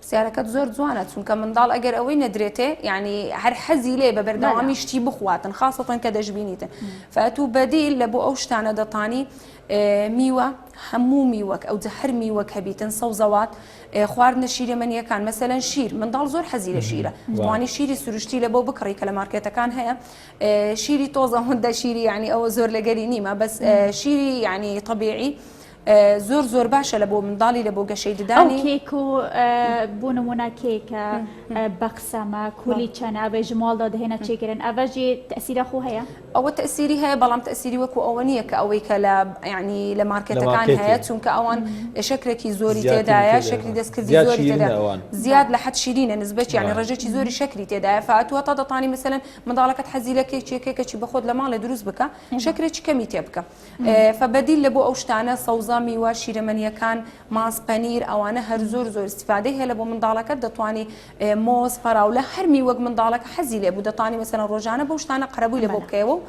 پرسیارەکەت زۆر جوانە چونکە منداڵ ئەگەر ئەوەی نەدرێتێ یعنی هەر حەزی لێ بە بەردەوامی شتی بخواتن خاصەتەن کە دەشببینیتن فاتوو بەدیل لە بۆ ئەو شتانە دەتانی میوە هەموو میوەک ئەو جە هەر میوەک هەبیتن سەوزەوات خوارد نەشیرە منیەکان مەسەەن شیر منداڵ زۆر حەزی لە شیرە جوانی شیری سروشتی لە بۆ بکڕی کە لە مارکێتەکان هەیە شیری تۆزە هەندە شیری ینی ئەوە زۆر لەگەری نیمە بەس شیری ینی طببیعی زۆر زۆر باشە لە بۆ منداڵی لە بۆ گەشەی ددانی کێک و بۆ نمونە کێکە بەقسەمە کولی چەند ئەبێ ژماڵدا دەهێنە چێگرن ئەڤژی تەسیرە خۆ هەیە ئەوە تەسیری هەیە بەڵام تەسیری وەکو ئەوە نییە کە ئەوەی کە لە ینی لە مارکێتەکان هەیە چونکە ئەوان شکرێکی زۆری تێدایە شکری دەستکردی زۆری تێداوان زیاد لە حەت شیرینە نسبەت ینی ڕێژێکی زۆری شکری تێدایە فاتوە تا دەتانی مثلەن منداڵەکەت حەزی لە کێکێکێکەی بەخۆت لە ماڵێ دروست بکە شکرێکی کەمی تێ بکە فە بەدیل لە بۆ ئەو شتانە سەوزە میوە شیرەمەنیەکان ماست پەنیر ئەوانە هەر زۆر زۆر استفادەی هەیە لە بۆ منداڵەکە دەتوانی مۆز فەراولە هەر میوەک منداڵەکە حەزی لێ بوو دەتانی مەسەرە ڕۆژانە بەو شتانە قەرەبووی لە بۆ بکەیەوە و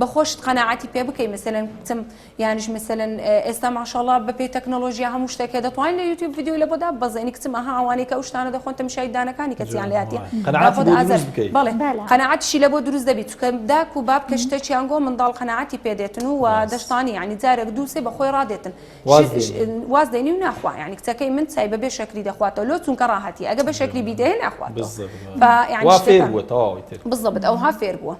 بەخۆشت قەنەعاتی پێ بکەی مەسەن کچم یانش مەسەن ئێستا ماشاڵا بە پێی تەکنۆلۆژیا هەموو شتێکە دەتوانین لە یوتیوب یددیو لە بۆدا بەزێنی کچم ئەها ئەوانەی کە ئەو شتانە دەخۆن تەمشای دانەکانی کەسیان لاتیە قەنەعاتشی لە بۆ دروست دەبیت کە داک و باب کە شتەکیان گۆ منداڵ قەناعەتی پێ دێتن و وا دەشتانی یانی جارەک دوو سێ بە خۆی ڕادێتن واز دێنی و ناخوا یانی کچەکەی من چای بە بێ شەکری دەخواتەوە لۆ چونکە ڕاهەتی ئەگە بە شەکری بیدەیێ ناخواتەوە فا یانی شتەکان وا فێر بووە تەواوی تر بزەبت ئەوها فێر بووە.